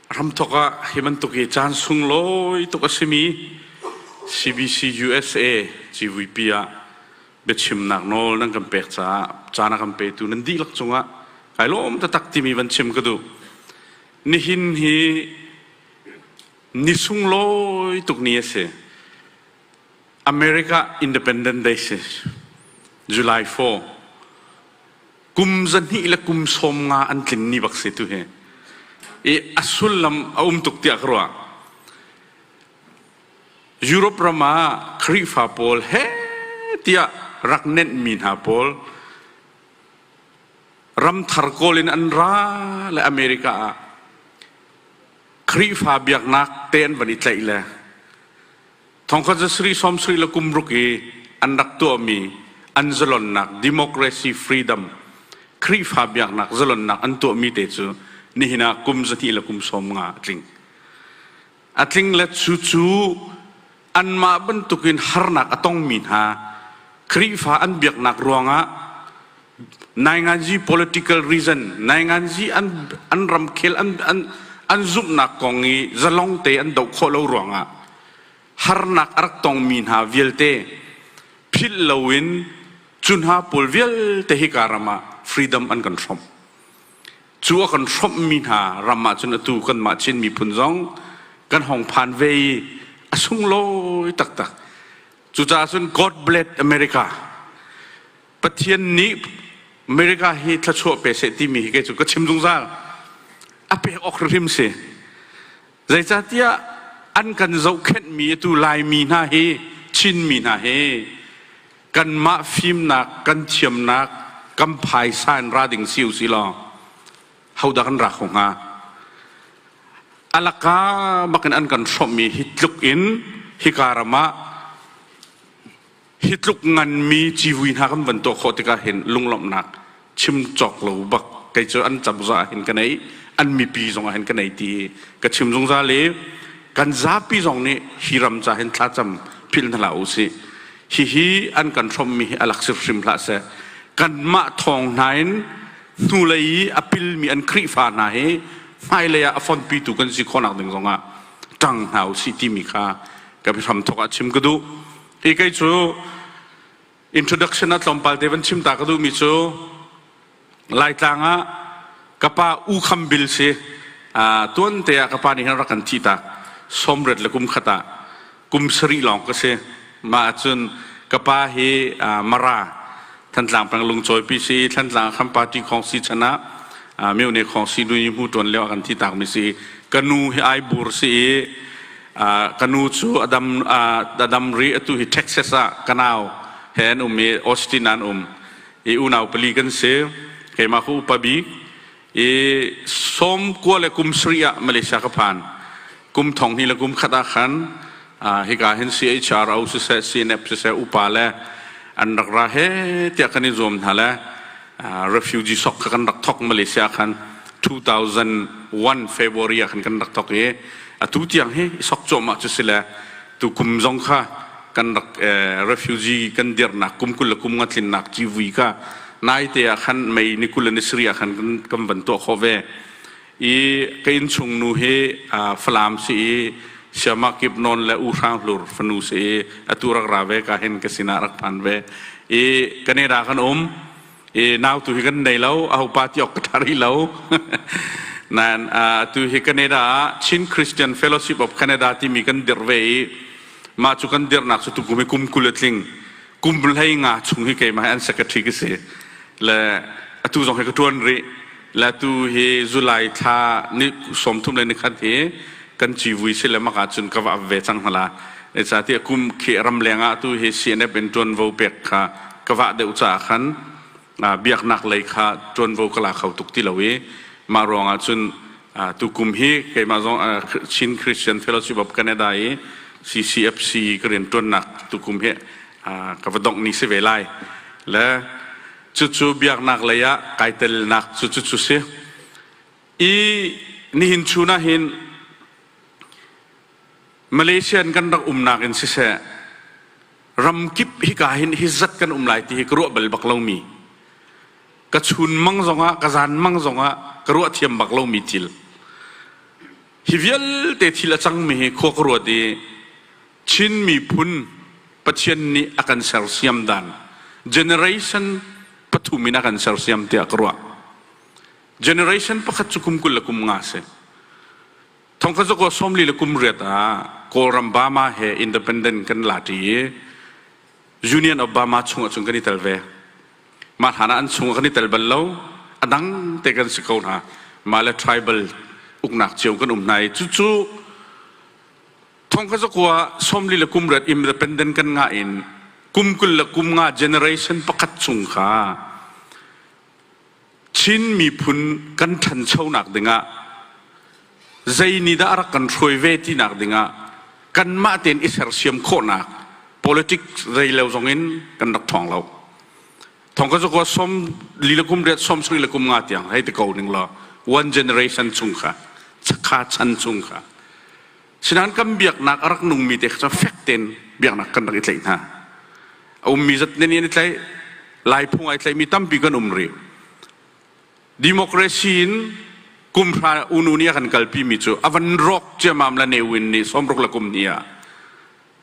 Hramthawk ah hi bantuk hi caan sunglawi tuk a simi CBC USA CVP ah biachimnak nawl nan kan pek caah caan a kan petu nan dihlak cungah kai lawm tatak timi van chim ka duh nihin hi Ni sunglawi tuk ni a si. America Independent Day si. July 4. Kum zahnih le kum sawm nga an tlin ni bak si tu hi. I a sullam a um tuk tiah ka ruah. Europe ram ah Khrihfa pawl he tiah rak nenhmi hna pawl ram thar kawl in an ra le America ah Khrihfa biaknak te an van i tlaih le thongkhat cu Sri Som Sri le kum ruk i an rak tuahmi an zalonnak democracy freedom Khrihfa biaknak zalonnak an tuahmi te cu nihin ah kum zahnih le kum sawm nga a tling. A tling le cu cu anmah bantukin harnak a tongmi hna Khrihfa an biaknak ruangah nainganzi political reason nainganzi an an ramkhel an an an zumhnak kong i zalong te an doh khawh lo ruangah harnak a rak tongmi hna vialte philh loin cu hna pawl vialte hika ram ah freedom an kan hrom cu a kan hrawmhmi hna ram ahcun atu kanmah Chin miphun zong kan hong phan ve i a sunglawi taktak cucaah cun God bless America Pathian nih America hi thluachuah pe seh timi hi kei cu ka chim zungzal a pek awk hrimhrim si Zeicahtiah an kan zohkhenhmi atu Laimi hna hi Chinmi hna hi kanmah fimnak kan thiamnak kan phaisa in ra ding si u si law hodah kan ra kho hnga? Alaka bakin an kan hrawmhmi hi tluk in hika ram ah hi tluk nganmi civui hna kan van tuah khawh tikah hin lunglawmhnak chim cawk lo bak kei cu an cazah ah hin ka nei an mipi zongah hin ka nei ti ka chim zungzal i kan zapi zong nih hi ram ca hin thlacam philh hna hlah u sih hihi an kan hrawmmi hi alak sir hrim hlah seh kanmah thawng hna in hnulei i a pilmi an Khrihfa hna hi hmailei ah a fonpitu kan si khawhnak ding zongah ṭang hna u sih timi kha ka biahram thawk ah chim ka duh Hi kei cu introduction a tlawmpal te van chim ta ka duhmi cu Laitlang ah ka pa U Kham Bil si tuan te ah ka pa nih hin rak kan thih tak sawmret le kum khat ah kum sarih lawng ka si mah ahcun ka pa hi Mara Thantlang Penglung cawipi si Thantlang kan party khong si chan ah Myone khong si nu hmu tuan leo kan ti tak mi si ka nu hi ai bur si i ka nu cu adam adam ri atu hi Texas ah kanau he an um i Austin an um i unau pali kan si keimah ku upabi i som kua le kum sarih ah Malaysia ka phan kum thong hnih le kum khat ah khan hika hin CHRO siseh CNF siseh upa le an rak ra he tiah kan in zuam hna le refugee sok kan rak thok Malaysia khan 2001 February ah khan kan rak thok i atu tiang hi sok cuahmah cu si le tu kum zong kha kan rak refugee kan dirhnak kum kul le kum nga tlinnak civui ka naite ah khan mei ni kul le ni sari ah khan kan van tuah kho ve i ka inn chung nu hi falam si i siama kip non le u hrang hlur fanu si i atu rak ra ve ka hin ka sinah rak phan ve i kaneda kan um i nau tu hi kan nei lo ahopa tiawk ka ṭha rih lo nain tu hi Canada ah Chin Christian Fellowship of Canada timi kan dirh ve i mah cu kan dirhnak cu tukum hi kum kul a tling kum hlei nga chung hi keimah hi an secretary ka si le atu zong hi ka ṭuan rih Latu hi July thla ni sawmthum le nikhat hi kan civui si le maka cun ka va ve cang hala e ca ti kum khi ram leng ah tu hi CNF in ṭuanvo pek kha ka vah deuh caah khan biaknak lei kha ṭuanvo ka la kho tuk ti lo i mah ruangah cun tu kum hi keimah zong Chin Christian Fellowship of Canada i CCFC ka rian ṭuannak tu kum hi ka va dongh ni si ve lai le Cucu biaknak lei ah kai telnak cu cucu si. I nihin chun ah hin Malaysian kan rak umnak in siseh, ramkip hika hin hi zat kan um lai ti hi ka ruah bal bak lomi, ka chun mang zong ah, ka zan mang zong ah ka ruah thiam bak lomi thil. Hi vialte thil a cangmi hi khua ka ruat i Chin miphun Pathian nih a kan sersiam dan generation pathum in a kan sersiam tiah ka ruah. Generation pakhat cu kum kul le kum nga a si. Thongkazok aw sawmli le kum riat ah Kawlram Bama he independent kan lati i Union of Bama chungah cun kan i tel ve. Mah hlan ah an chungah kan i tel bal lo. A dang te kan si ko hna. Mah le tribal uknak cio kan um hna i cucu Thongkha zakua somli le kum rat independent kan nga in kum kul le kum nga generation pakhat chung kha Chin miphun kan ṭhanchonak dingah zei ni dah a rak kan hruai ve tinak dingah kanmah tein i sersiam khawhnak politics rei lo zongin kan rak thawng lo. Thongka zakua som lilakum riat som srilakum nga tiang hei ti ko ning law one generation chung kha chakha chan chung kha Sinain kan biaknak a rak nungmi te kha cu fek tein biaknak kan rak i tlaih hna. A ummi zat nih an i tlaih. Lai phung ai tlaihmi tampi kan um rih. Democracy in kumhra unu nih a kan kalpimi cu a van rawk ciamam le ne win nih sawmruk le kum hnih ah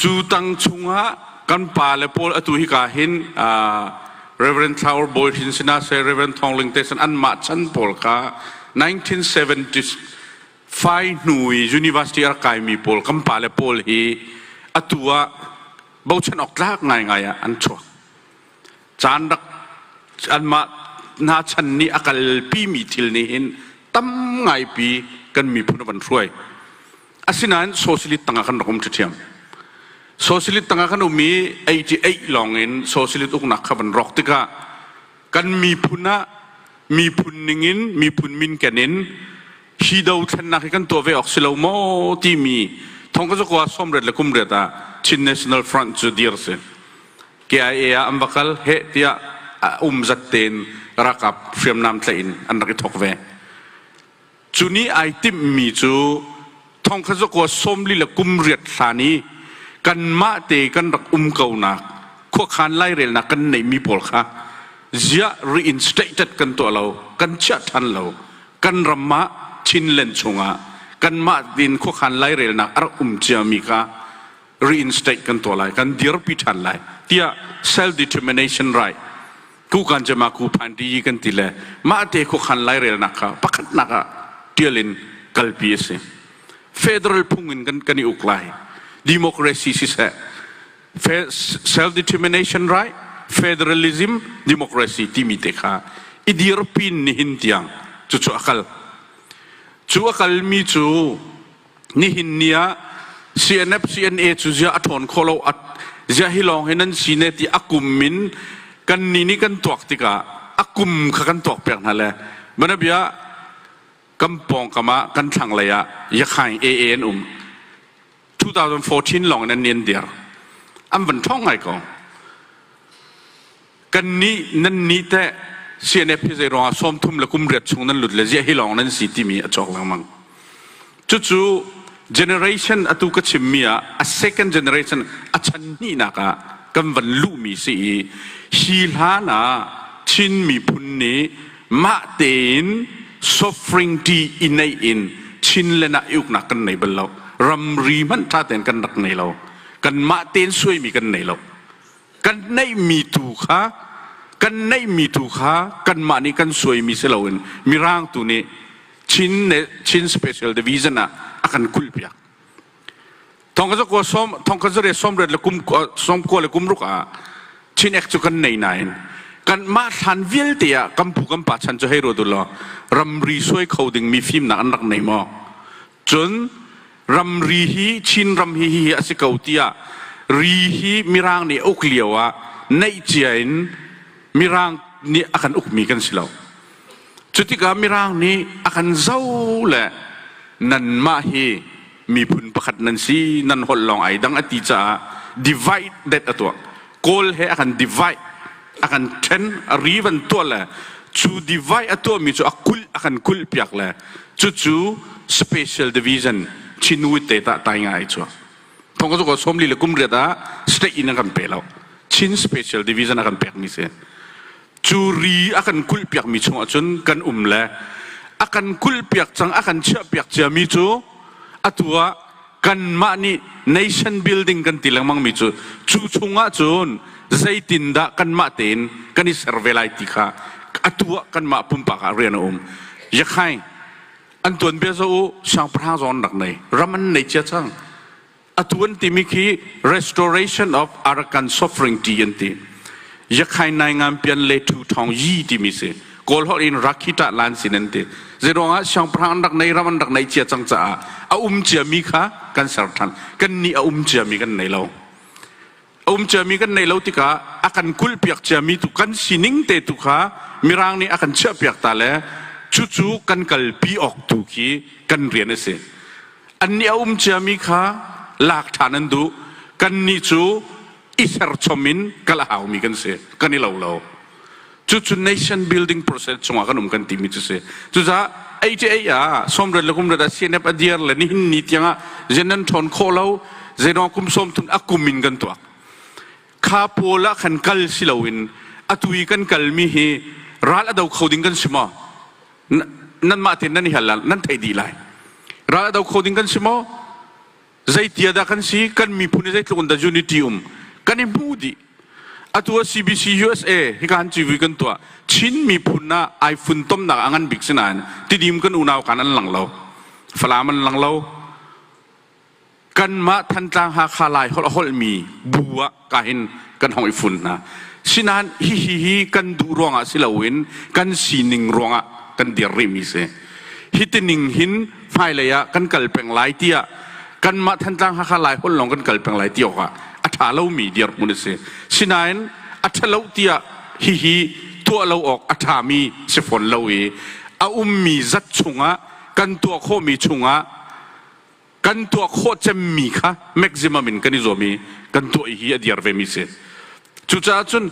Cu tang chungah kan pa le pawl atu hika hin Reverend Flower Bawi Hrin sinah say Reverend Thawng Ling Tesan anmah chan pawl kha 1975 hnu i university a rak kaimi pawl kan pa le pawl hi atu ah bochan awk tlak ngaingai ah an chuak caan rak anmah hna chan nih a kalpimi thil nih hin tam ngaipi kan miphun a van hruai Asinain socialist tangah kan rak um ṭhiṭhiam. Socialist tangah kan um i 88 lawng in socialist uknak kha van rawk tikah kan miphun ah miphun ningin miphun minken in hi dothlennak hi kan tuah ve awk si lo maw timi thongka cu kwa somret le kumriat ah Chin National Front cu dir si KIA ah an va kal he tiah um zat tein rakap hriamnam tlaih in an rak i thok ve Cu ni ai timhmi cu thongkhazakuaa sawmli le kum riat hlan i kanmah te kan rak um konak khuakhan lairelnak kan neihmi pawl kha ziah reinstated kan tuah lo, kan chiah ṭhan lo, kan ram ah Chinland chungah kanmah in khuakhan lairelnak a rak um ciami kha reinstate kan tuah lai kan dirpi ṭhan lai tiah self determination right kukan cema ku phanti kan ti le mah te khuakhan lairelnak kha pakhatnak ah tial in kalpi a si federal phung in kan kan i uk lai democracy siseh self determination right federalism democracy timi te kha i dirpin nihin tiang cu cu akal cu akal mi cu nihin ni ah CNF CNA cu ziah a ṭhawn khawh lo ziah hi lawng hi nan si ne ti a kum min kan ni nih kan tuak tikah a kum kha kan tuak pek hna le mana bia kan pawngkam ah kan thlanglei ah yakhaing AA an um 2014 lawng in an nian dir an van ṭhawng ngai ko kannih nan nih teh CNF hi zeiruangah sawm thum le kum riat chung nan lut le ziah hi lawng nan si timi a cawk lengmang. Cucu generation atu ka chimmi ah a second generation a chanhnihnak ah kan van luhmi si i hi hlan ah Chin miphun nih mah tein suffering ṭi i neih in Chinland ah i uknak kan nei bal lo. Ramri hmanh ṭha tein kan rak nei lo. Kan mah tein suaimi kan nei lo. kan neihmi tu kha kan neihmi tu kha kanmah nih kan suaimi si loin mirang tu nih chin ne chin special division ah a kan kulpiak thongkazar kua som thongkazare somret le kum som kua le kum ruk ah chin ek cu kan nei nain kan mah thlan vialte ah kampu kampa chan cu hei ro dul law ramri suai kho ding mi fim nak an rak nei maw Cun ramri hi Chin ram hi hi a si ko tiah ri hi Mirang nih a uk lio ah neih cia in Mirang nih a kan ukmi kan si lo. Cu tikah Mirang nih a kan zoh le nanmah hi miphun pakhat nan si, nan holh lawng ai dang a ti caah divide that a tuah. kawl he a kan divide a kan then a rivan tuah le cu divide a tuahmi cu a kulh a kan kulh piak le cucu special division chinuit te ta tai ngai chuah thong ka ko somli le kum riat ah state in a kan pe lo chin special division a kan pek mi si cu ri a kan kulh piakmi chungah cun kan um le a kan kulh piak cang a kan chiah piak ciami cu atu ah kanmah nih nation building kan ti lengmangmi cu cu chungah cun zeitindah kanmah tein kan i ser ve lai ti kha atu ah kanmah pumpak ah rian a um yakhai an tuan bia zo u siangpahrang zawn rak nei ram an nei cia cang atu an timi khi restoration of arakan suffering ti an ti yakhai nai ngam pian le thu thong yi timi si kawl hor in rakhi ta lan sin an ti zedong ah siangpahrang an rak nei ram an rak nei cia cang caah a um cia mi kha kan ser than kan ni a um cia mi kan nei lo a um ciami kan neih lo tikah a kan kulhpiak ciami tu kan sining te tu kha mirang nih a kan chiahpiak ta le cucu kan kalpi awk tu khi kan rian a si an nih a um ciami kha lak ṭhan an duh kan nih cu i serchom in kal a haumi kan si kan i lo lo cucu nation building process chungah kan um kan timi cu si cucaah HA ah somret le kumret ah CNF a diar le nihin ni tiangah zenan ṭhawn khawh lo zeno kum som thun a kum in kan tuak kha pawl ah khan kal si loin atui kan kalmi hi ral ado kho ding kan si maw nan mah tin nan i hal nan thei di lai ral ado kho ding kan si maw Zeitia dah kan si? Kan miphun hi zeitluk in dah unity um kan i hmu dih. Atu ah CBC USA hi kan civui kan tuah. Chin miphun ah ai funtomnak a ngan bik si nain tidim kan unau kan an lang lo. Falam an lang lo. Kanmah Thantlang Hakha Lai holh a holhmi bu ah ka in kan hong i fun hna sinain hihi hi kan duh ruangah si loin kan sining ruangah kan dir rihmi si hi tining hin hmailei ah kan kal peng lai tiah kanmah Thantlang Hakha Lai Holh lawng kan kal peng lai ti awkah a ṭha lomi dirhmun a si sinain a ṭhalo tiah hihi tuah lo awk a ṭhami si fawn lo i a ummi zat chungah kan tuah khawhmi chungah kan tuah khawh cemmi kha maximum in kan i zuam i kan tuah i hi a dir vemi si cucaah cun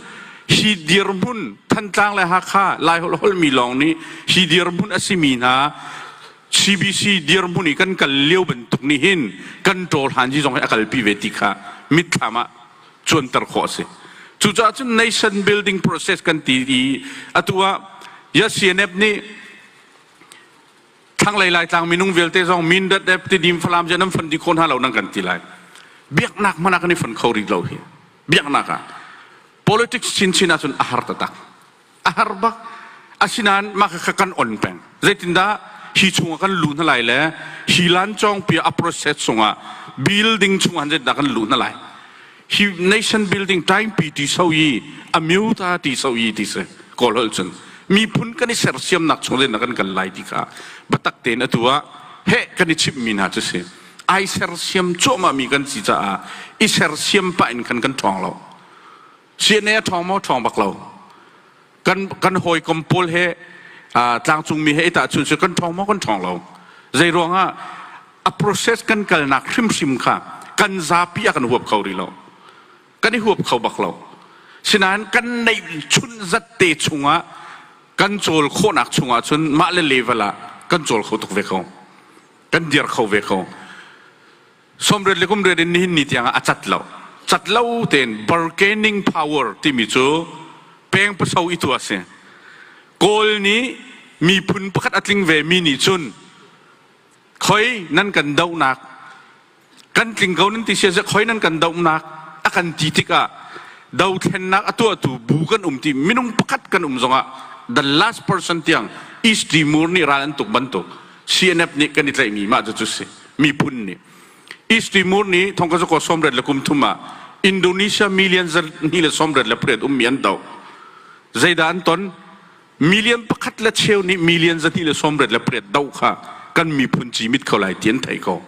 hi dirhmun Thantlang le Hakha Laiholh holmi lawng nih hi dirhmun a simi hna CBC dirhmun i kan kal lio bantuk nih hin kan ṭawl hanji zong hi a kalpi ve ti kha mitthlam ah cuanter khawh a si cucaah cun nation building process kan ti i atu ah ya CNF nih Thlanglei Laitlang minung vialte zong Mindat dep Tidim Falam cu nan fondi kho hna lo nan kan ti lai. Biaknak hmanh ah kan i fon kho rih lo hi. Biaknak ah. Politics chinchin ahcun a har taktak. A har bak. Asinain mah kha kan on peng. Zeitindah hi chungah kan luh hna lai le hi lancawngpi a process chungah building chungah hanzetdah kan luh hna lai. hi nation building taimpi ti so i a myu ta ti so i ti si kawl hol cun miphun kan i sersiamnak chung in kan kal lai ti kha batak tein atu ah he kan i chimmi hna cu si ai sersiam cuahmah mi kan si caah i sersiam pah in kan kan ṭhawng lo CNA a ṭhawng maw ṭhawng bak lo kan kan hawikom pawl he tlangcungmi he i tahchunh cu kan ṭhawng maw kan ṭhawng lo zei ruangah a process kan kalnak hrimhrim kha kan zapi a kan huap kho rih lo kan i huap kho bak lo sinain kan neih chun zatte chungah kan cawl khawhnak chungah cun mah le level ah kan cawl kho tuk ve ko kan dir kho ve ko Somret le kumret in nihin ni tiangah a cat lo. Cat lo tein bargaining power timi cu pengpaso i tu a si. Kawl nih miphun pakhat a tling ve mi nih cun khoi nan kan dohnak kan tling ko nan ti sia khoi nan kan dohnak a kan ti tikah dothlennak a tuahtu bu kan um ti minung pakhat kan um zongah the last person tiang East Timur nih ral an tuk bantuk CNF nih kan i tlaihmi mah cu si miphun nih East Timur nih thongka zuko sawmret le kum thum ah Indonesia million zarhni le sawmret le pariat ummi an doh zeidah an ton million pakhat le cheu nih million zahnih le sawmret le pariat doh kha kan miphun cimit kho lai ti an thei ko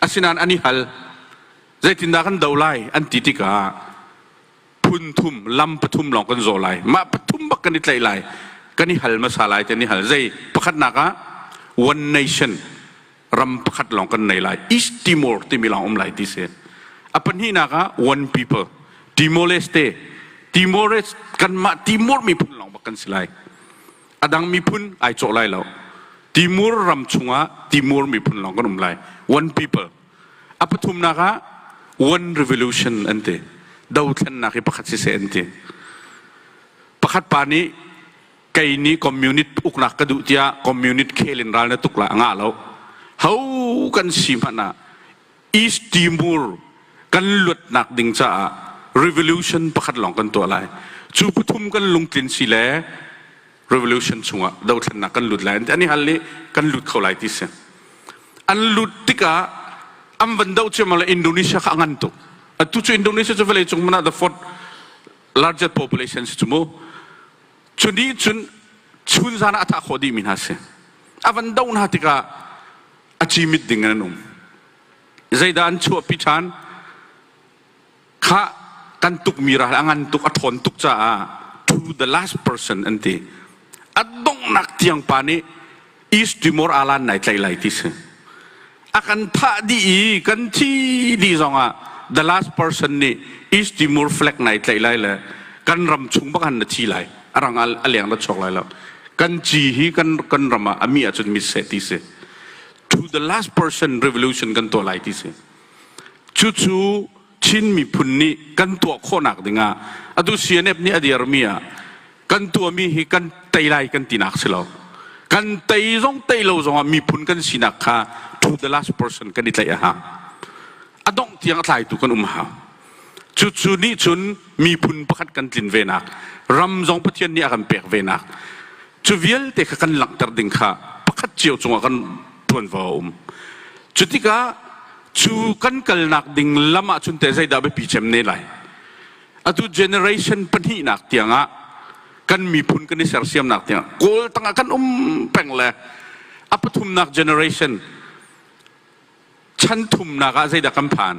asinain an i hal zeitindah kan do lai an ti tikah phun thum lam pathum lawng kan zaw lai mah pathum bak kan i tlaih lai kan i hal hmasa lai kan i hal zei pakhatnak ah one nation ram pakhat lawng kan nei lai east timor timi lawng um lai ti si a pahnihnak ah one people timor-leste timores kanmah timor miphun lawng bak kan si lai a dang miphun ai cawh lai lo timur ram chungah timur miphun lawng kan um lai one people A pathumnak ah one revolution an ti. Dothlennak hi pakhat siseh an ti. Pakhat pa nih kei nih communist uknak ka duh tiah communist khel in ral na tuk la a ngah lo. Ho kan si hmanh ah East Timor kan luatnak ding caah revolution pakhat lawng kan tuah lai. Cu pathum kan lungtlin si le revolution chungah dothlennak kan lut lai an i hal i kan lut kho lai ti si an lut tikah an van doh ciammam le Indonesia kha a ngan tuk atu cu Indonesia cu vawlei cung man ah the fourth largest population si cu mu cu nih cun chun zan ah a thah khawh dihmi hna si a van doh hna tikah a cimit ding in an um zeidah an chuahpi ṭhan Khah, kan tukmi ral a ngan tuk, a ṭhawn tuk caah to the last person an ti. A donghnak tiang pa nih East Timor alan nai tlaih lai ti si. A kan thah dih i kan thi dih zongah the last person nih East Timor flag nai tlaih lai le kan ram chung bak han na thi lai. A rang a leng la chok lai lo. Kan ci hi kan kan ram ah a mi ahcun mitseh ti si. To the last person revolution kan tuah lai ti si. Cucu Chin miphun nih kan tuah khawhnak dingah atu CNF nih a dirmi ah kan tuahmi hi kan tei lai kan tinak si lo. Kan tei zong tei lo zongah miphun kan sinak kha to the last person kan i tlaih a hang. A dongh tiang a tlaitu kan um hang. Cucu nih cun miphun pakhat kan tlin venak, ram zong Pathian nih a kan pek venak, cu vialte kha kan langhter ding kha pakhat cio cungah kan ṭuanvo a um. Cu tikah cu kan kalnak ding lam ah cun teh zeidah biapi cem ne lai? Atu generation pahnihnak tiangah kan miphun kan i sersiamnak tiang kawl tangah kan um peng le a pathumnak generation chan thumnak ah zeidah kan phan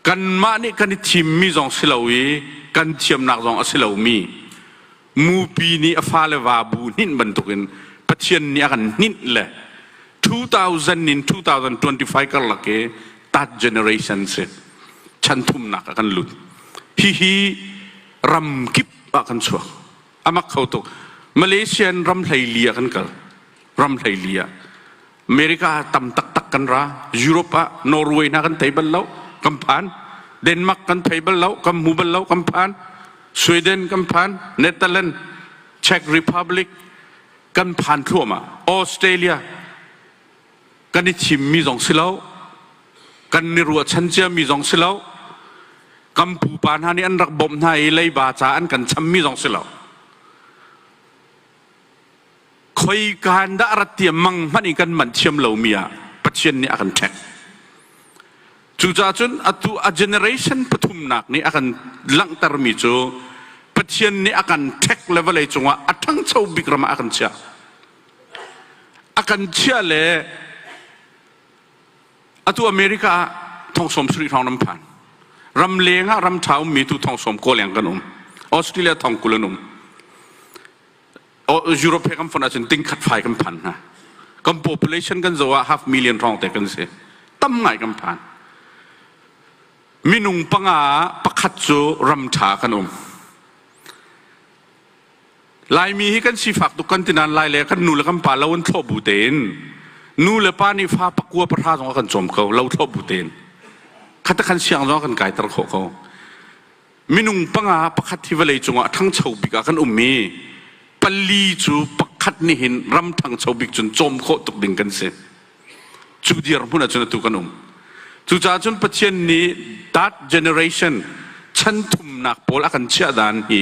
kanmah nih kan i thimmi zong si lo i kan thiamnak zong a si lomi mupi nih a fale va bu hninh bantukin pathian nih a kan hninh le 2000 in 2025 karlak i that generation si chan thumnak ah kan lut hihi ram kip ah kan chuak amak kho tuk malaysian ram hleili ah kan kal ram hleili ah America tam taktak kan ra. Europe ah Norway na kan thei bal lo, kan phan. Denmark kan thei bal lo, kan mu bal lo, kan phan. Sweden kan phan, Netherlands, Czech Republic kan phan thluahmah. Australia kan i thimmi zong si lo, kan ni ruahchan ciami zong si lo, kan pupa hna nih an rak bawmh hna i leiba ca an kan chammi zong si lo. khoikaan dah rat tiah mang hmanh in kan manh thiam lomi ah Pathian nih a kan ṭhek. Cucaah cun atu a generation pathumnak nih a kan langhtermi cu Pathian nih a kan ṭhek le vawlei cungah a ṭhangcho bik ram ah a kan chiah. A kan chiah le atu America ah thongsawm sarih hrawng ram phan. Ram leng ah ram ṭha ummi tu thongsawm kaw leng kan um. Australia thong kul an um. Europe he kan fonh ahcun dingkhat fai kan phan hna. Kan population kan zoh ah half million hrawngte kan si. Tam ngai kan phan. Minung panga pakhat cu ramtha kan um. Laimi hi kan sifak tuk kan tinan lai le kan nu le kan pa lo in thlo bu tein nu le pa nih fa pakua pahra zong a kan cawm ko lo thlo bu tein khatakhan siang zong a kan kai ter khawh ko minung panga pakhat hi vawlei cungah ṭhangcho bik ah kan um i pali cu pakhat nih hin ram ṭhangcho bik cun cawm khawh tuk ding kan si cu dirhmun ahcun atu kan um cucaah cun Pathian nih that generation chan thumnak pawl a kan chiah dan hi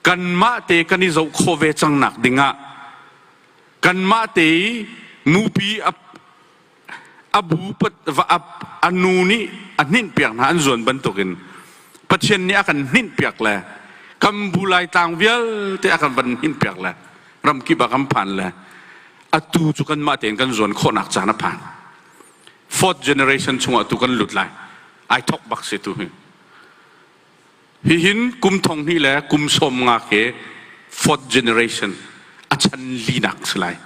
kanmah te kan i zoh khawh ve cang nak dingah kanmah te i nupi a bu a nu nih a hninh piak hna an zuan bantukin Pathian nih a kan hninh piak le kan bu laitlang vialte a kan van hninh piak le ramkip a kan phan le atu cu kanmah tein kan zuan khawhnak caan a phan fourth generation chungah tu kan lut lai ai thok bak se tu hi hihin kum thong hni le kum som nga ke fourth generation a chan linak si lai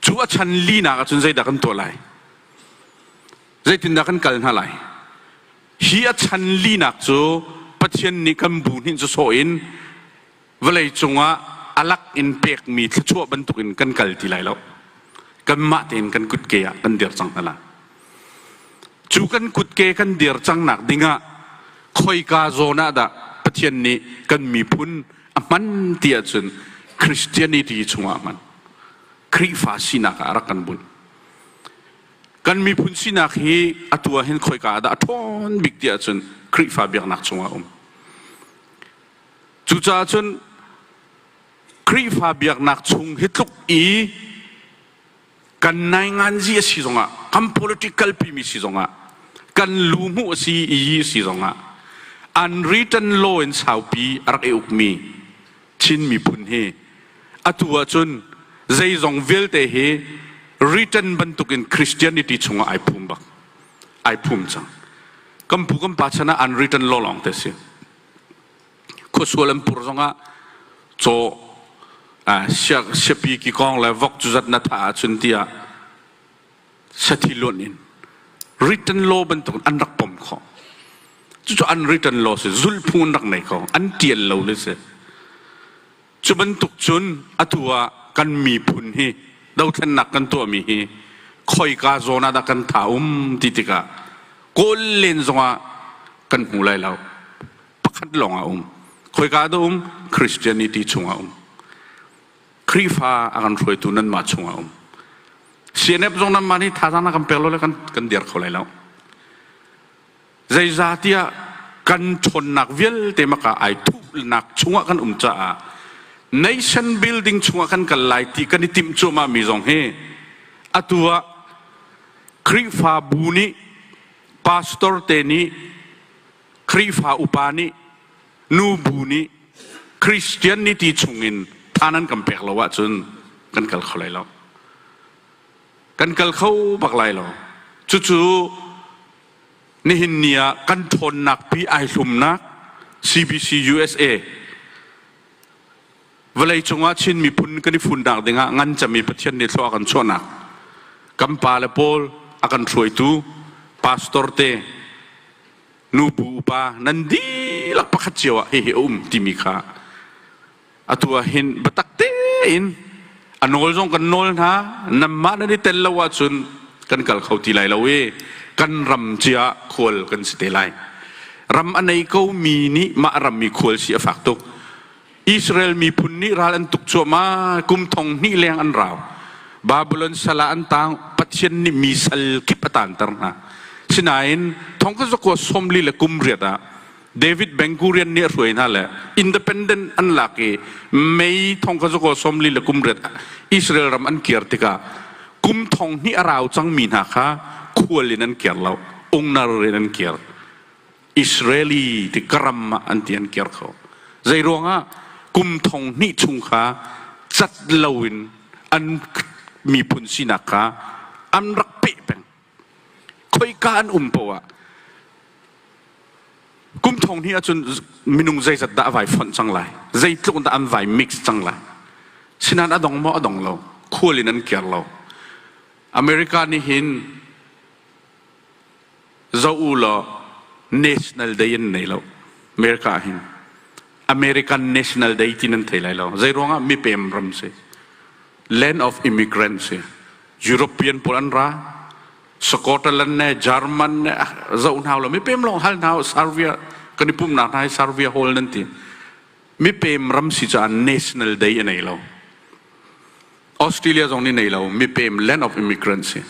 Cu a chan linak ah cun zeidah kan tuah lai? Zeitindah kan kal hna lai? Hi a chan linak cu Pathian nih kan bu nih cu sawh in vawlei cungah a lak in pekmi thluachuah bantukin kan kal ti lai lo. Kanmah tein kan kutke ah kan dir cang hna lai. Cu kan kutke kan dir cangnak dingah khoika zawn ah dah Pathian nih kan miphun a hman ti ahcun Christianity chungah a hman. Khrihfa sinak ah rak kan bunh. Kan miphun sinak hi atu ah hin khoika ah dah a ṭhawn bik ti ahcun Khrihfa biaknak chungah um. Cucaah cun Khrihfa biaknak chung hi tluk i kan nainganzi a si zongah, kan politic kalpimi si zongah, kan luhmu a si i si zongah, unwritten law in saupi a rak i ukmi Chin miphun hi atu ahcun zeizong vialte hi return bantukin Christianity chungah ai phum bak ai phum cang kan pu kan pa chan ah an return law lawng te si khuasual an pur zongah caw siapi ki kong le vok cu zat na tha ahcun tiah sathi luan in written law bantuk an rak pom khawh cucu unwritten law si zulphu an rak nei kho an tial lo le si cu bantuk cun atu ah kan miphun hi dothlennak kan tuahmi hi khoika zawn ah dah kan tha um ti tikah kawl len zongah kan hmu lai lo pakhat lawng a um khoika dah um christianity chungah um Khrihfa a kan hruaitu nanmah chungah um. CNF zong nanmah nih thazaang na kan pek lo le kan, kan dir kho lai lo. Zeizah tiah kan ṭhawnnak vialte maka ai thuhnak chungah kan um caah nation building chungah kan kal lai ti kan i timh cuahmah mi zong hi atu ah Khrihfa bu nih pastor te nih Khrihfa upa nih Nu bu nih Christian ni ti chungin tha nan kan pek lo ahcun kan kal kho lai lo. Kan kal kho bak lai lo. Cucu nihin ni ah kan ṭhawnnak pi ai hlumnak CBC USA vawlei cungah Chin miphun kan i fundak dingah ngan cami Pathian nih thlua kan chuahnak kan pa le paul a kan hruaitu pastor te nupu upa nan dihlak pakhat cio ah hihi a um timi kha atu ah hin batak tein a nawl zong kan nawl hna nanmah nan i tel lo ahcun kan kal kho ti lai lo i kan ram cia khual kan si te lai ram a nei ko mi nih mah ram i khual si a fak tuk Israel miphun nih ral an tuk cuahmah. Kum thong hnih leng an rau. Babylon sal ah an tang. Pathian nih mi sal kip a tanter hna. Sinain thong ka zakua sawmli le kum riat ah David Bengurian nih a hruai hna le independent an lak i May thong ka zakua sawmli le kum riat ah Israel ram an kir tikah kum thong hnih a rau cangmi hna kha khual in an kir lo, ungnar in an kir. Israeli ti karam ah an ti an kir kho. Zei ruangah kum thong hnih chung kha cat loin an miphun sinak kha an rak peh peng. Khoika an um poah kum thong hnih ahcun minung zeizat dah a vai fonh cang lai zeitluk dah an vai mix cang lai sinan a dong maw a dong lo khual in an kir lo america nih hin zoh u law national day an nei lo America ah hin American National Day ti nan thei lai lo zei ruangah mipem ram si land of immigrants si European pawl an ra Scotland ne German ne ah zoh hna lo mipem lawng hal hna Serbia kan i pumnak hna hi Serbia hol nan ti mipem ram si caah national day a nei lo Australia zong nih nei lo mipem land of immigrants hi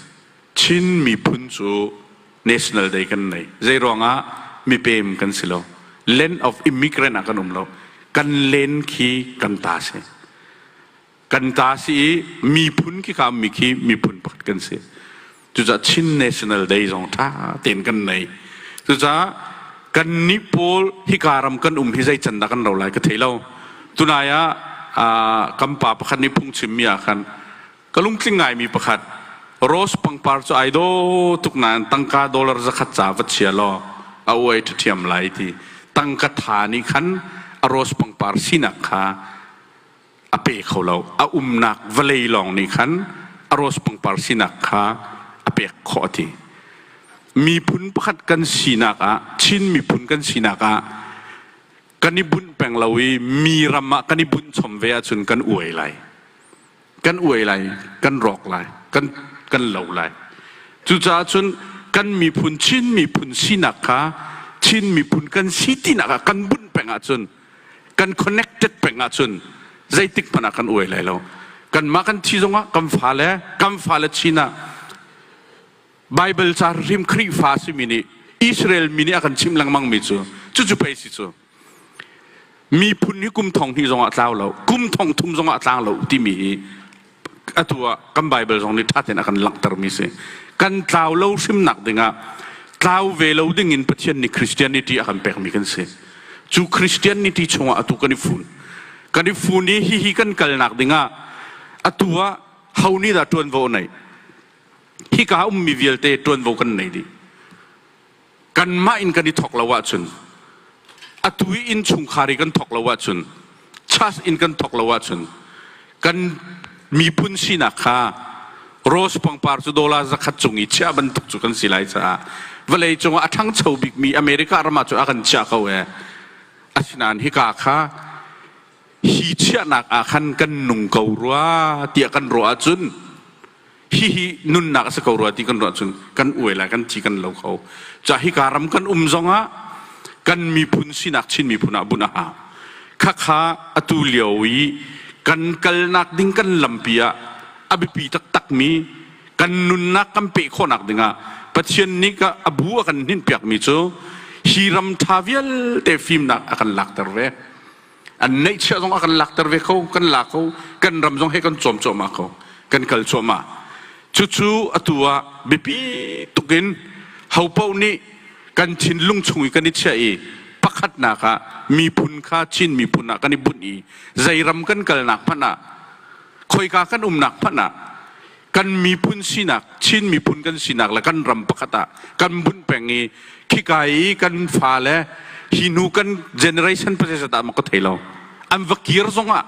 Chin miphun cu national day kan nei zei ruangah mipem kan si lo land of immigrant ah kan um lo kan len khi kan ta si kan ta si i miphun khi ka ummi khi miphun pakhat kan si Cucaah Chin National Day zong ṭha tein kan nei. Cucaah kan nih pawl hika ram kan um hi zei can dah kan ro lai ka thei lo. Tunai ah kan pa pakhat nih phungchimmi ah khan ka lungtling ngaimi pakhat rose pangpar cu ai do tuk nain tangka dollar zakhat ca va chia law a uai ṭhathiam lai ti tangka tha nih khan a rose pangpar sinak kha a pe kho lo. A umnak vawlei lawng nih khan a rose pangpar sinak kha a pek khawh a ti. Miphun pakhat kan sinak ah, Chin miphun kan sinak ah, kan i bunh peng lo i mi ram ah kan i bunh chom ve ahcun kan uai lai. Kan uai lai, kan rawk lai, kan, kan lo lai. Cucaah cun kan miphun Chin miphun sinak kha Chin miphun kan si tinak ah kan bunh peng ahcun kan connected peng ahcun zeitik hmanh ah kan uai lai lo kanmah kan thi zongah kan fale kan fale chin ah Bible ca rim Khrihfa a simi nih Israel mi nih a kan chimh lengmang mi cu cucu pei si cu miphun hi kum thong hnih zongah tlau lo kum thong thum zongah tlang lo timi hi atu ah kan Baibal zong nih ṭha tein a kan langhtermi si. Kan tlau lo hrimnak dingah tlau ve lo dingin Pathian nih Christianity a kan pekmi kan si. Cu Christianity chungah atu kan i fun. Kan i fun i hihi kan kalnak dingah atu ah ho nih dah ṭuanvo a neih? Hika ummi vialte ṭuanvo kan nei dih. kanmah in kan i thawk lo ahcun atu i innchungkhar i kan thawk lo ahcun church in kan thawk lo ahcun kan miphun sinak kha rose pangpar cu dollar zakhat cung i chiah bantuk cu kan si lai caah vawlei cung ah a ṭhangcho bikmi America ram ah cu a kan chiah ko ee asinain hika kha hi chiahnak ah khan kan nung ko rua tiah kan ruah ahcun hihi nunnak a si ko rua ti kan ruah cun kan uai lai kan ci kan lo kho ca hika ram kan um zongah kan miphun sinak chin miphun ah bunh a ha khakha atu lio i kan kalnak ding kan lampi ah a biapi taktakmi kan nunnak kan pe khawhnak dingah Pathian nih a bu a kan hninpiakmi cu hi ram ṭha vialte fimnak a kan lakter ve an neihchiah zong ah kan lakter ve ko kan la ko kan ram zong he kan cawm cuahmah ko kan kal cuahmah cucu atu ah biapi tuk in hopo nih kan thinlung chung i kan i chiah i pakhatnak ah miphun kha Chin miphun ah kan i bunh i zei ram kan kalnak hmanh ah khoika kan umnak hmanh ah kan miphun sinak Chin miphun kan sinak le kan ram pakhat ah kan vun peng i khika i kan fale hi nu kan generation process ah maka thei lo an va kir zong ah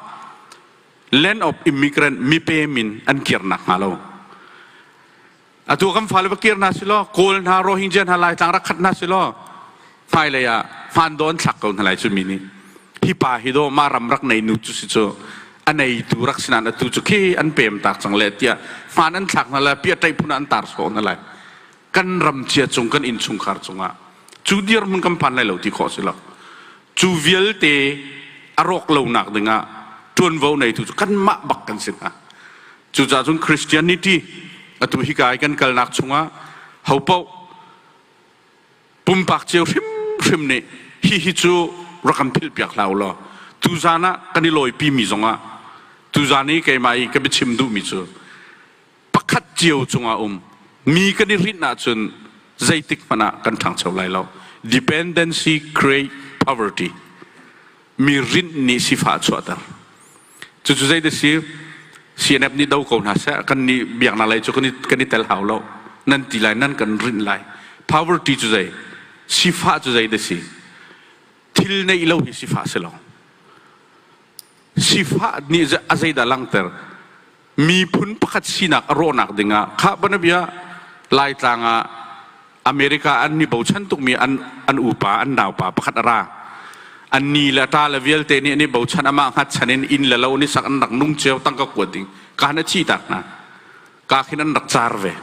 land of immigrant mipe min an kir nak hnga lo atu kan fale va kir hna silo kawl hna rohingya hna laitlang rak khat hna silo hmailei ah hmaan dawn thlak ko hna lai cu mi nih hi pa hi daw mah ram rak nei nu cu si cu a neitu rak si nain atu cu khi an pem tak cang le tiah hmaan an thlak hna lai pia taih phun an tar sawh hna lai kan ram cia cung kan inn chungkhar cungah cu dirhmun kan phan lai lo ti khawh si lo cu vialte a rawk lonak dingah ṭuanvo neitu cu kanmah bak kan si hna cucaah cun Christianity atu hika i kan kalnak chungah hopoh pumpak cio hrimhrim nih hihi cu rak kan philhpiak hlah u law tuzan ah kan i lawipimi zongah tuzan i keimah i ka biachim duhmi cu pakhat cio cungah um mi kan i hrinh ahcun zeitik hmanh ah kan ṭhangcho lai lo dependency create poverty mi rinh nih sifah a chuahter Cucu zei da si CNF nih do ko hna seh kan nih biak hna lai cu kan i, kan i tel hau lo nan ti lai nan kan rinh lai poverty cu zei sifah cu zei da si thil neih lo hi sifah si lo sifah nih a zeidah langhter miphun pakhat sinak a rawhnak dingah khah banabia laitlang ah america an ni bochan tukmi an an upa an naupa pakhat a ra an ni le ta le vialte nih an i bochan amah hngatchan in inn le lo nih sak an rak nung cio tangka kuat ding kaan a chi tak na ka khin an rak car ve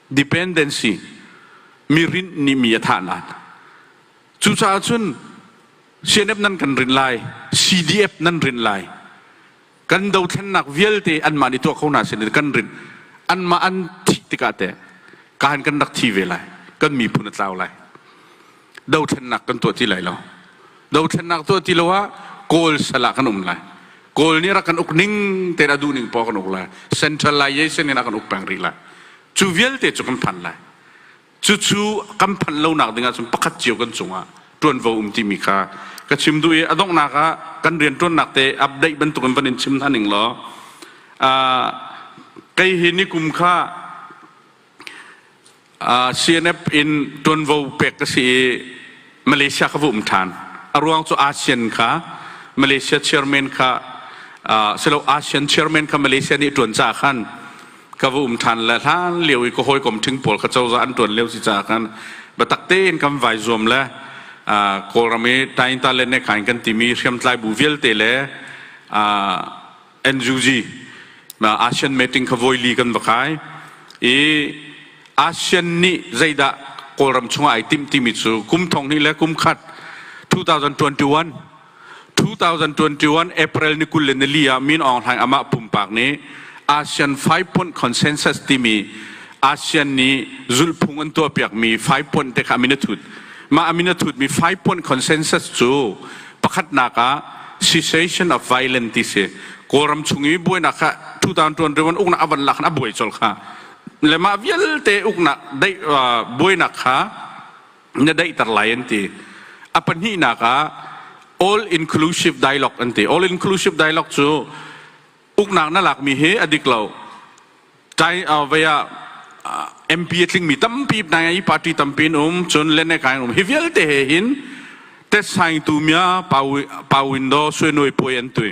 dependency mi rint ni mi a thah nan cucaah cun CNF nan kan rin lai CDF nan rin lai kan dothlennak vialte anmah nih tuah kho hna sin in kan rinh anmah an thih tikah teh kaan kan rak thi ve lai kan miphun a tlau lai dothlennak kan tuah ti lai lo dothlennak tuah ti lo ah kawl sal ah kan um lai kawl nih rak kan uk ning te a duh ning pa kan uk lai centralization in a kan uk peng rih lai cu vialte cu kan phan lai Cucu kan phanh lonak ding ahcun pakhat cio kan cungah ṭuanvo um timi kha ka chim duh i a donghnak ah kan rianṭuannak te update bantukin van in chim hna ning law uh, kei hi nikum kha uh, CNF in ṭuanvo pek ka si i Malaysia kha vuhum ṭhan. A ruang cu ASEAN kha Malaysia chairman kha silo ASEAN chairman kha Malaysia nih ṭuan caah khan ka va um ṭhan le hlan lio i ka hawikom ṭhing pawl kha cozah an ṭuan lio si caah khan biatak tein kan vai zuam le Kawlram i Tainta le Nekai kan timi hriamtlai bu vialte le NUG ASEAN meeting kha voi li kan va kai i ASEAN nih zeidah Kawlram chungah ai timh timi cu kum thong hnih le kum khat 2021 2021 April ni kul le nili ah Min Aung Hlaing amah pumpak nih ASEAN five point consensus timi ASEAN nih zulhphung an tuahpiakmi five point te kha amin a thut mah amin a thutmi five point consensus cu Pakhatnak ah cessation of violence ti si. Kawlram chung i buainak kha 2021 uknak a van lak in a buai colh kha. Le mah vialte uknak daih, uh, buainak kha na daihter lai an ti. A pahnihnak ah all inclusive dialogue an ti. All inclusive dialogue cu uknak na lakmi hi a dik lo tai vai ah MP a tlingmi tampi hna i party tampi an um cun lenai kai an um hi vialte he hin tet saing tu mia pa window suenoi poi an tui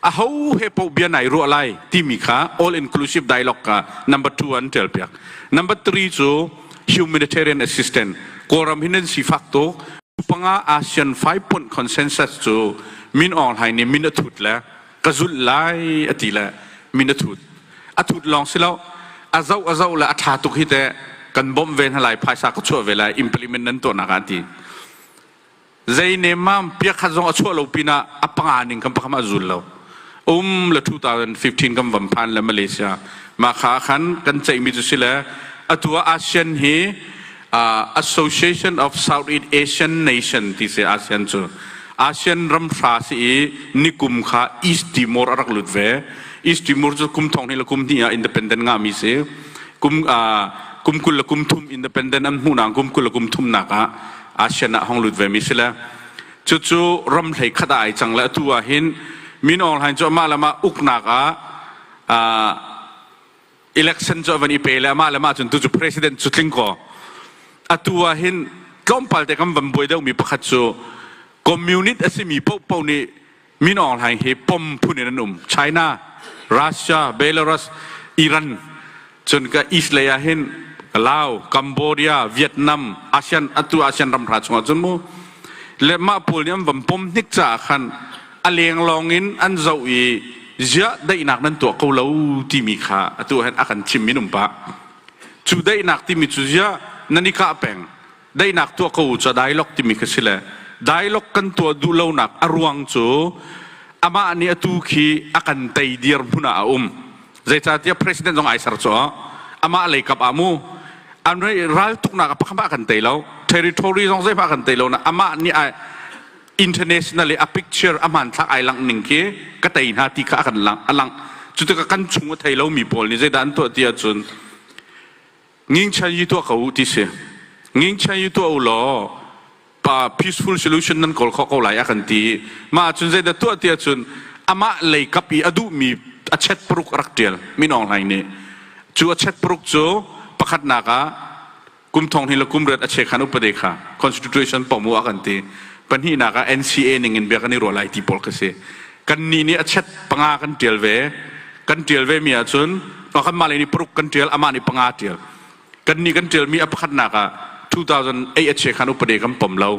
a ho he po bia nai ruah lai timi kha all inclusive dialogue ka number 2 an tel piak number 3 cu humanitarian assistance kawram hin an sifak to panga ASEAN 5 point consensus cu min ong hai ni min a thut le ka zulh lai a ti le min a thut a thut lawng si lo a zoh a zoh le a ṭha tuk hi teh kan bawmh ve hna lai phaisa ka chuah ve lai implement nan tuahnak ah ti zei ne ma piakhat zong a chuah lo pinah a panga ning kan pakam a zul lo um le 2015 kan van phan le Malaysia mah kha khan kan ceihmi cu si le atu ah ASEAN hi Association of Southeast Asian Nation ti si ASEAN cu ASEAN ramhra si i nikum kha East Timor a rak lut ve. East Timor cu kum thong hnih le kum hnih ah independent ngahmi si. Kum, kum kul le kum thum independent an hmuhnak kum kul le kum thumnak ah ASEAN ah hong lut vemi si le cucu ram hlei khat ah ai cang le atu ah hin min aung hlain cu amah le mah uknak ah election cu a van i pe le mah le mah cun tucu president cu tling kaw atu ah hin tlawmpal te kan van buai deuhmi pakhat cu communist a simi popo nih min aung hlaing hi pom phun in an um china russia belarus iran cun ka east lei ah hin Laos Cambodia Vietnam ASEAN atu ASEAN ram hra chungah cun mu le mah pawl nih an van pom hnik caah khan a lenglawng in an zoh i ziah daihnak nan tuah ko lo timi kha atu hin a kan thimmi an um pah cu daihnak timi cu ziah nan i kah peng daihnak tuah ko u cu dialogue timi kha si le dialogue kan tuah duh lonak a ruang cu amah nih atu khi a kan tei dir hmun ah a um zeicahtiah president zong ai ser cu amah lei kap ah mu an raltuknak a pakhat ah kan tei lo territory zong zeihmah kan tei lo na amah nih international i a picture a hmanthlak ai langh ning khi ka tei hna ti kha a kan lang a lang cu tikah kan chung a thei lomi pawl nih zeidah an tuah ti ahcun ngingchan yi tuah ko u ti si ngingchan yi tuah u law pa peaceful solution nan kawl kho ko lai a kan ti mah ahcun zeidah tuah ti ahcun amah lei kap i a duhmi a chet puruk rak tial min aung hlaing nih cu a chet puruk cu pakhatnak ah kum thong hnih le kum riat a che khan upade kha constitution pomu a kan ti pahnih nak ah NCA ning in bia kan i ruah lai ti pawl ka si kan ni nih a chet panga kan tial ve kan tial ve mi ah cun kan mah le ni paruk kan tial ama ni panga tial kan ni kan tial mi a pakhat nak ah 2008 a che khan upade kan pom lo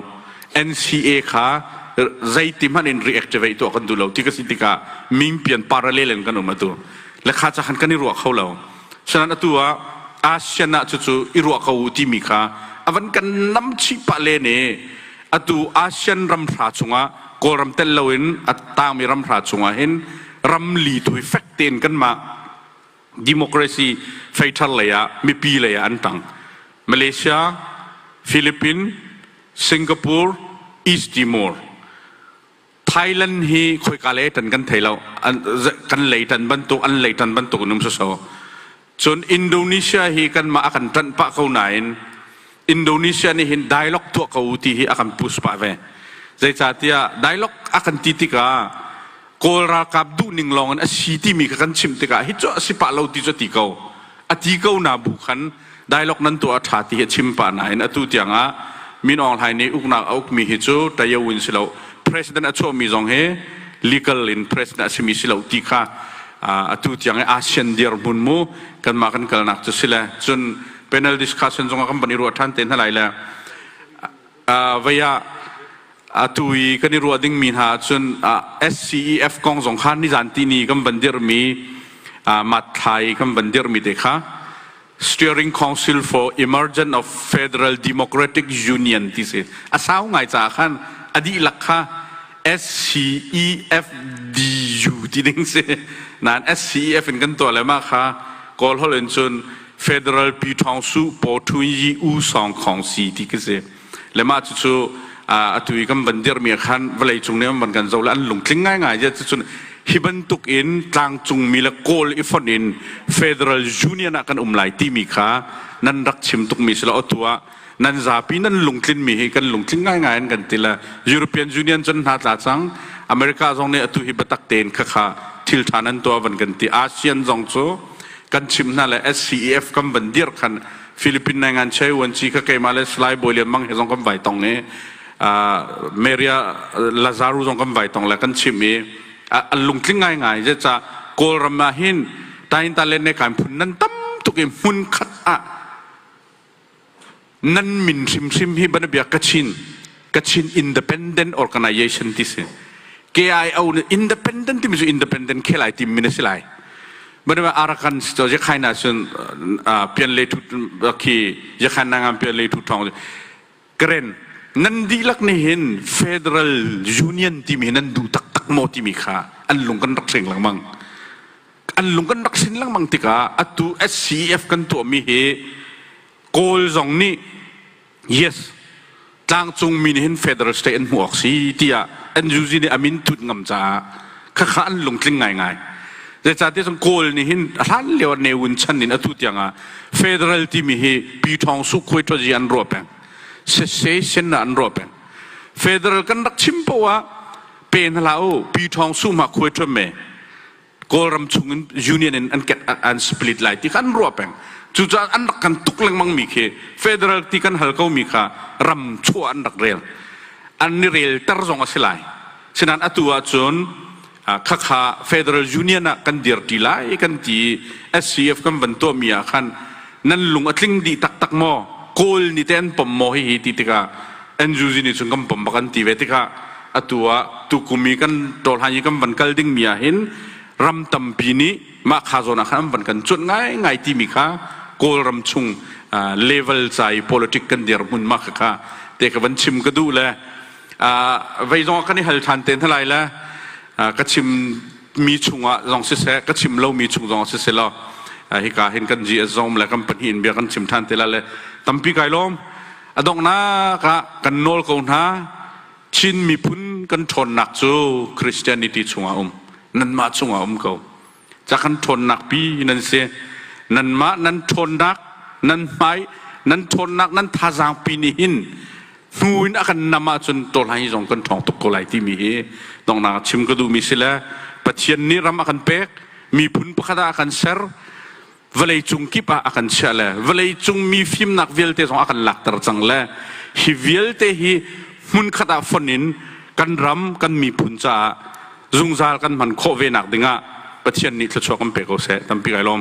NCA kha zeiti hman in reactivate tu kan du lo ti ka si tikah ming pian parallel in kan um atu lekha cha khan kan i ruah kho lo Sena'n atu ah ASEAN ah cucu i ruah ko u timi kha a van kan nam chih pah len i atu ASEAN ramhra chungah Kawlram tel loin a tangmi ramhra chungah hin ramli thui fek tein kanmah democracy fei thar lei ah mipi lei ah an tang Malaysia Philippines Singapore East Timor Thailand hi khoika lei tan kan thei lo kan lei tan bantuk an lei tan bantuk in um sosai cun Indonesia hi kan mah a kan ṭanh pah ko nain Indonesia nih hin dialogue tuah ko ti hi a kan push pah ve zeicahtiah dialogue a kan ti tikah kawl ralkap duh ning lawng in a si timi kha kan chimh tikah hi cu a si pah lo ti cu a ti ko a ti ko na bu khan dialog nan tuah a ṭha ti hi a chim pah nain atu tiangah Min Aung Hlaing nih uknak a ukmi hi cu Tayo in si lo president a chuahmi zong hi legal in president a simi si lo ti kha atu tiang i ASEAN dirhmun mu kanmah kan kalnak cu si le cun panel discussion zong kan van i ruah ṭhan te hna lai le vei ah atu i kan i ruah dingmi hna ahcun SCEF kong zong kha nizantini kan van dirhmi matthlai kan van dirhmi te kha Steering Council for Emergence of Federal Democratic Union ti si a sau ngai caah khan a dihlak kha SCEFDU ti ding si nain SCEF in kan tuah le mah kha kawl hol in cun Federal Pi Thawng Su Paw Thun Yi U Song Khong Si ti ki si le mah cu cu atu i kan van dirmi khan vawlei cung ne van kan zo le an lungtling ngai ngai je cun hi bantuk in tlangcung mi le kawl i fon in Federal Union ah kan um lai timi kha nan rak chim tuk mi si lo atu ah nan zapi nan lungtlinmi hi kan lungtling ngaingai in kan ti le European Union cun hna tla cang America zong nih atu hi biatak tein khakha thil ṭha nan tuah van kan ti ASEAN zong cu kan chim hna le SCEF kan van dir khan Philippine nai ngan chei wan chi ka keima le Salai Boy Lian Mang he zong kan vai tong ni Maria Lazaro zong kan vai tong le kan chim i a lungtling ngai ngai je ca Kawlram ah hin tain talen ne kan phun nan tam tuk i hmun khat ah nan min hrimhrim hi banabia kachin kachin independent organization ti si KIO independent timi cu independent khelai tim min a si lai banaba arakan si to yekhai na sun pian le thu khi yekhai na ngam pian le thu thong Karen, nan dihlak nih hin Federal Union timi hi nan duh taktak maw timi kha an lung kan rak seng lengmang. An lung kan rak sin lengmang tikah atu SCEF kan tuahmi hi Kawl zong nih yes tlangcungmi nih hin Federal State an hmuh awk si tiah NUG nih a min tut ngam caah khakha an lungtling ngaingai zeicahtiah cun kawl nih hin a hlan lio ah neun chan in atu tiang ah federal timi hi pi thawng su khuai thazi an ruah peng sese sen an ruah peng federal kan rak chim po ah pe na la u pi thawng su ma khuai thum me kawlram chung in union in an ket an split lai ti kan ruah peng cucaah an rak kan tuk lengmang mi khi federal ti kan hal ko mi kha ram chuah an rak rel an ni rel ter zong a si lai Senan atu ahcun khakha Federal Union ah kan dirti lai kan ti SCF kan van tuahmi ah khan nan lung a tling dih taktak maw Kawl nih te an pom maw hihi ti tikah NUG nih cun kan pom bak an ti ve tikah atu ah tukum i kan tawlhan i kan van kal dingmi ah hin ram tampi nih mah kha zawn ah khan an van kan cuanh ngaingai timi kha Kawlram chung level ca i politic kan dirhmun mah kha te ka van chim ka duh le vei zong kan i hal ṭhan te hna lai le ka chimmi chungah zong siseh ka chim lomi chung zong siseh law hika hin kan GSZOM le kan pahnih in bia kan chim ṭhan te lai le tampi kai lawm a donghnak ah kan nawl ko hna Chin miphun kan ṭhawnnak cu Christianity chungah um nanmah chungah um ko ca kan ṭhawnnak pi nan si nanmah nan ṭhawnnak nan hmai nan ṭhawnnak nan thazaang pi nih hin hnu in a kan nam ahcun tawlhlan hi zong kan ṭhawng tuk ko lai timi hi donghnak chim ka duhmi si le Pathian nih ram a kan pek miphun pakhat ah a kan ser vawleicung kip ah a kan chiah le vawleicung mi fimnak vialte zong a kan lakter cang le hi vialte hi hmunkhat ah fon in kan ram kan miphun caah zungzal kan hman khawh ve nak dingah Pathian nih thluachuah kan pe ko seh tampi kai lawm